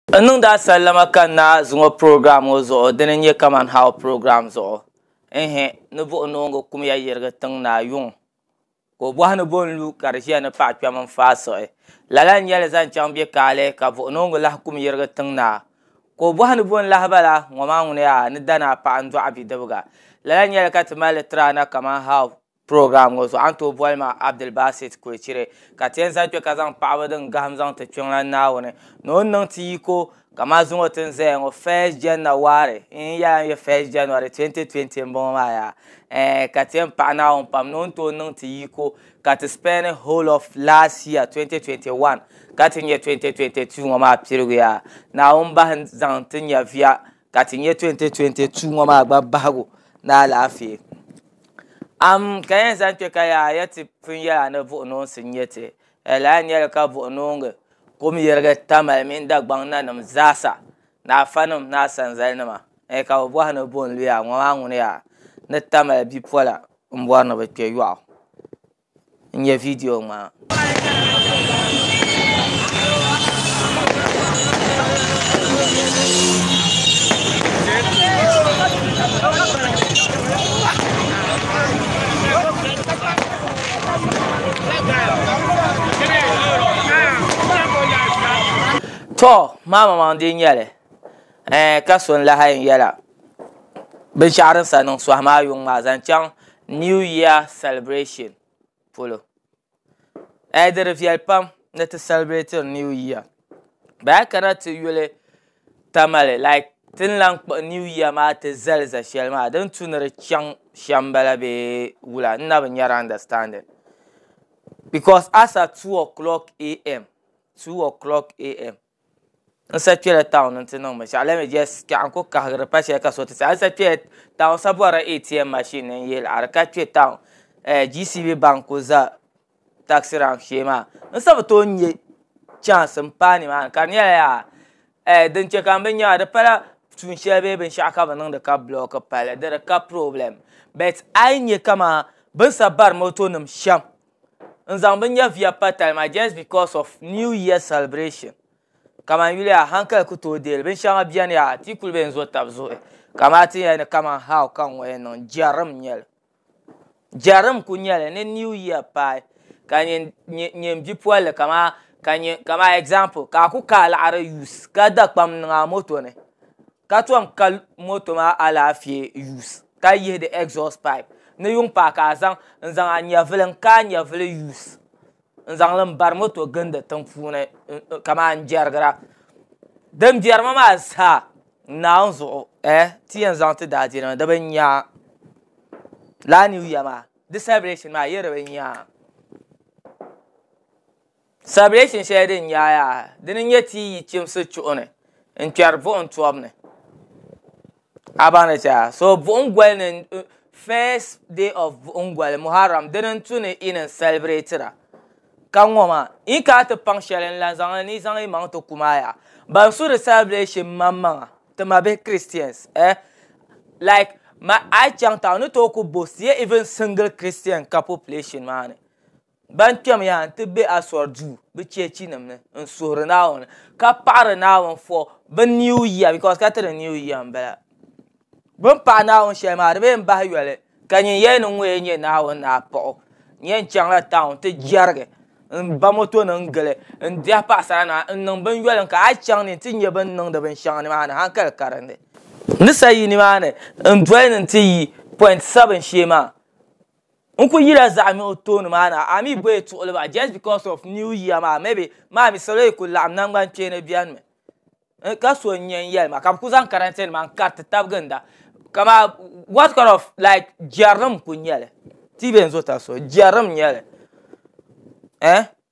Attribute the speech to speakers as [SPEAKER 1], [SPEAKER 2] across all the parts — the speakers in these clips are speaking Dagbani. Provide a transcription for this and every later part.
[SPEAKER 1] N niŋdi a sallama ka n na zuŋɔ program ŋɔ zuɣu dini n-nyɛ Kaman How program zuɣu. Ɛɛhɛ, ni buɣi noongu kumya yirigi tiŋ ni a yuŋ, ka o bɔhi ni bɔ n-lu ka di ʒiya ni paɣ kpɛm n-faai suɣi. Lala n-nyɛ li zaŋ chaŋ bɛ kaali ka buɣi noongu lahi kum yirigi tiŋ ni a, ka o bɔhi ni bɔ n-lahi bala, ŋɔ maa ŋuni a ni dani a paɣ n-dɔɣi bidibiga. Lala n-nyɛ li ka ti mali li tiri a na Kaman How. Program ŋɔ zuɣu a ni tooi boli ma Abdulbasit Kurichiri ka ti yɛn zali kpe ka zaŋ paɣaba din gahim zaŋ ti Kpiɔŋlan Naawuni ni o ni niŋ ti yiko ka maa zuŋɔ ti ni zaya ŋɔ first Janna wari n yɛla n yɛ first January 2020 n bɔŋɔ maa yaa eh ka ti yɛn paɣi Naawuni pam ni o ni tooi niŋ ti yiko ka ti spend whole of last year 2021 ka ti nyɛ 2022 ŋɔ maa piligu yaa Naawuni bahi zaŋ ti nyɛviya ka ti nyɛ 2022 ŋɔ maa gba bahigu ni alaafee. Am ka yɛn zaŋ kpɛ ka yaa yɛ ti pun yɛla ni buɣunoonsi n-nyɛ ti, di lahi nyɛli ka buɣunoongi kum yirigi tamali mini Dagbaŋ nanim zaasa ni afanim ni asanzalinima ni ka bɛ bɔhi ni bɔ n-lu yaa ŋɔ maa ŋuni yaa ni tamali bipola m-bɔri ni bɛ kpɛ yɔɣu. N nyɛ vidiyo ŋmaa. To maama maŋ di nyɛli eh, ka so n lahi yɛla binshɛɣu din sa niŋ sohi maa yuŋ maa zaŋ chaŋ new year celebration polo ɛɛ di di viɛli pam ni ti sɛlibirɛtiri new year bee a yi kana ti yuli tamale like ti ni lahi kpuɣi new year maa ti zali za shɛli maa din tu ni di chaŋ shɛm m-bala bee wula n na bi nya di understanding because a sa two o clock am. N sa kpela town n ti niŋ binshaɣu let me just kpiɛɣu n ku kahigiri pa shɛli ka so ti sa n sa kpela town sa bɔrila ATM machine ni n yihili a di ka kpɛ town GCB bank ku za taxi rank shee maa n sa bi tooi nya chance n paai ni maa ni ka di nyɛla yaa din chɛ ka n bi nya maa di pala tuun shɛli bee binshaɣu ka bi niŋdi ka block pali di di ka problem but a yi nya kaman bini sa bari moto nim shɛm. n zaŋ bi nyɛviya pa tali maa just because of new year celebration kaman yuli yaha hankali ku tooi deei li binshɛŋa beni yaha ti yi kuli be n zo taba zuɣu kaman a ti yɛn yɛli kaman how ka ŋ ŋɔ yɛn niŋ jɛrim n nyɛli jɛrim n kuli nyɛli ni new year paai ka nyin bipolili kaman kaman example ka a ku ka alaɣiri use ka dakpam niŋ a moto ni ka tom ka moto maa alaafee use ka yihi di exhaust pipe ni yuŋ paai ka a zaŋ n zaŋ a nyɛvuli n ka a nyɛvuli use n zaŋli n bari moto gindi tiŋ puuni kamani n jɛrigira din biɛri ma maa zaa n naawuni zuɣu eh ti yɛn zaŋ ti daadiinima di bi nya lala new year maa di celebration maa a yɛli di bi nya. Sabilesin shɛli din yaai yaha dini n-nyɛ ti yi chimsi chuɣu ni n-kpɛri buɣim tɔbu ni. A baŋ li chɛ a? So buɣim goli ni first day of buɣim goli Muharram dini n-tu ni yi ni celebrate-ra ka ŋɔ maa yi ni kana ti paŋ shɛli n-lan zaŋ li ni yi zaŋ yi maŋ ti kum a yaha. Ban su di celebration maŋmaŋa ti ma bihi Christians eh like ma a yi chaŋ town ni tooi ku boast ye even single Christian ka population maa ni. Ban kpɛmya n-ti be Asɔr duu, bɛ cheechinim ni, n-suhiri Naawuni, ka paɣiri Naawuni fɔ bɛ Niu Yia, bikos ka tiri Niu Yia m-bala. Bɛ ni paɣi Naawuni shɛli maa, di bee m-bahi yoli, ka nyin yɛli ni ŋun yɛn nyɛ Naawuni ni a paɣ o. N yɛn chaŋla taun ti jɛrigi, m-ba motonim n-gili, n-diɛhi paɣisaranima, n-niŋ binyoli n-ka hal chaŋ ni nti nya bɛ ni niŋdi binshɛŋa nimaani haŋkali karindi. N ni sa yi nimaani n-doli ni nti yi Point Seven shee maa, n ku yila zaɣa nuɣu tooni maa na a mi bɔyi tuɣili ba just because of new year maa maybe maa mi salo yi ku laɣim nangban kpeeni beni mi n ka so n yen yeli ma ka bi ku zaŋ karante nima n kariti taba ginda ka maa what kind of like jerinim n ku nyeli ti yi be n zo tabi so jerinim n nyeli eh.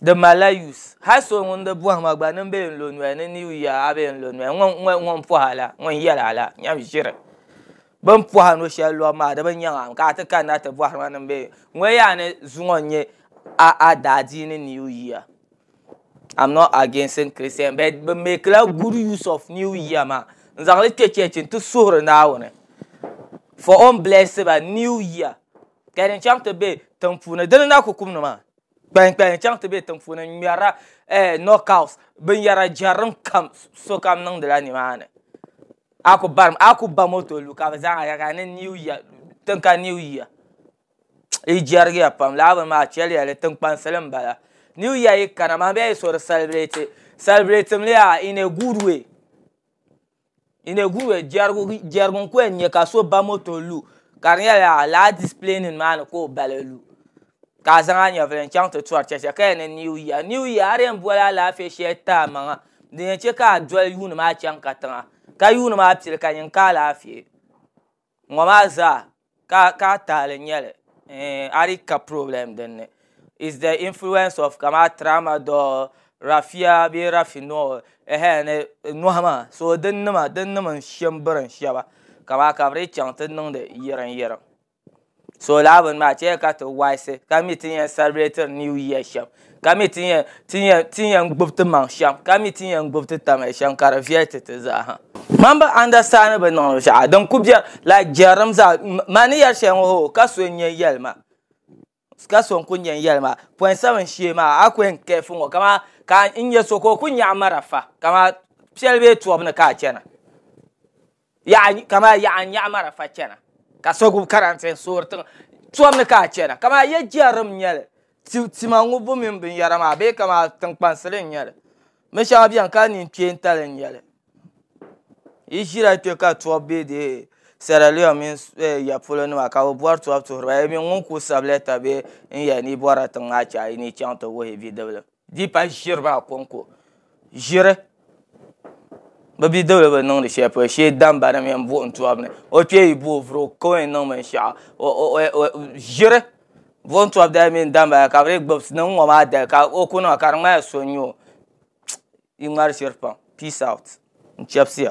[SPEAKER 1] Di malila use hali so ŋun di bɔhima gba nin bɛ yɛn lo noya ni new year a bɛ yɛn lo noya ŋun pɔha la ŋun yɛli a la nyam ʒiri bin pɔha luɣu shɛli luɣu maa di bi nyaŋ a ka a ti kanna ti bɔhiri ma nin bɛ yɛn ŋɔ yaa ni zuŋɔ n nyɛ a daadiini new year am not againsin christian but bi make la good use of new year maa n zaŋ li kpɛ church n ti suhuri naawuni for o ni bless ba new year. ka di chaŋ ti be tiŋ puuni dini n-daa ku kum ni maa kpalim kpalim n-chaŋ ti be tiŋ puuni n-ŋmɛrila knockout binyɛra jɛrim kam sokam niŋdi la ni maa ni a ku barim a ku ba moto lu ka bɛ zaa yɛli ni new year tin ka new year di jɛrigiya pam lala bini maa chɛliya di tiŋkpansi m-bala new year yi kana maa bɛ yaa yi so di celebrate celebrating li yaa in a good way. Iniguhuya jɛrigu n ku yɛn nyɛ ka so ba moto lu ka di nyɛla lala dispilɛ nim maa ni ka o bali lu ka a zaŋ a nyɛvuli n chɛŋ ti tɔri chɛchɛ ka yɛn niŋ niw yia niw yia a di yɛn boli alaafee shɛli ti amaŋa din yɛn chɛ ka a doli yuuni maa chɛŋ katiŋa ka yuuni maa pili ka nyin ka alaafee. ŋɔ maa zaa ka ka tahali nyɛli a di ka problem dinni is the influence of kama tramadol rafia bee rafinol ɛhɛɛ ni nɔhi maa so dinnima dinnim n shɛ m birim shɛba ka maa ka bɛ dii chaŋ ti niŋdi yiriŋ yiriŋ so laa bini maa chɛya ka ti waɣisi ka mi ti yɛn sɛlibirɛtiri niw yia shɛm ka mi ti yɛn gbubi ti maŋ shɛm ka mi ti yɛn gbubi ti tamli shɛm ka di viɛli ti ti zaa ha mani bi andastandi bi niŋdi shɛm din ku biɛni laik jɛrilim zaa mani ni yɛri shɛli ŋɔ hoo ka so n-yɛn yɛli ma ka so n-kuli yɛn yɛli ma pɔin sabin shee maa a ku yɛn kɛɛfu ŋɔ kamani ka n nya so ka o ku nyaɣi marafa kamani piɛli bee tɔbu ni ka a chana Yaɣa kamani yaɣa n nyaɣi marafa chana ka so gbubi karantɛ n soori tiŋa tɔbu ni ka a chana kamani ya jɛrim n nyɛli ti tima ŋubbu mini bin yara maa bee kamani tiŋkpansili n nyɛli bin shɛŋa bɛni ka nini kpeentali n nyɛli yi ʒira kpɛ ka tɔbu bɛ dee Sierra Leone mini ya polo nima ka bi bɔri tɔbu tuhiri ba yi mini ŋun kuli sabi lɛta bee n yɛli ni yi bɔrila tiŋ maa chɛ a yi ni yi chaŋ ti wuhi bidiblim. Di pa ʒiri maa konko ʒiri bi bidibili bi niŋdi shɛli polo shee damba ni mini buɣum tɔbu ni o kpee yi bo o vuri o kawɛn niŋ binshɛɣu ʒiri buɣum tɔbu dali mini damba dali ka bi dii gbubi niŋ ŋɔ maa dali ka o ku niŋ ka di ŋmanila so n-nyɛ o di ŋmari ʒiri pam peace out n-chabisiya.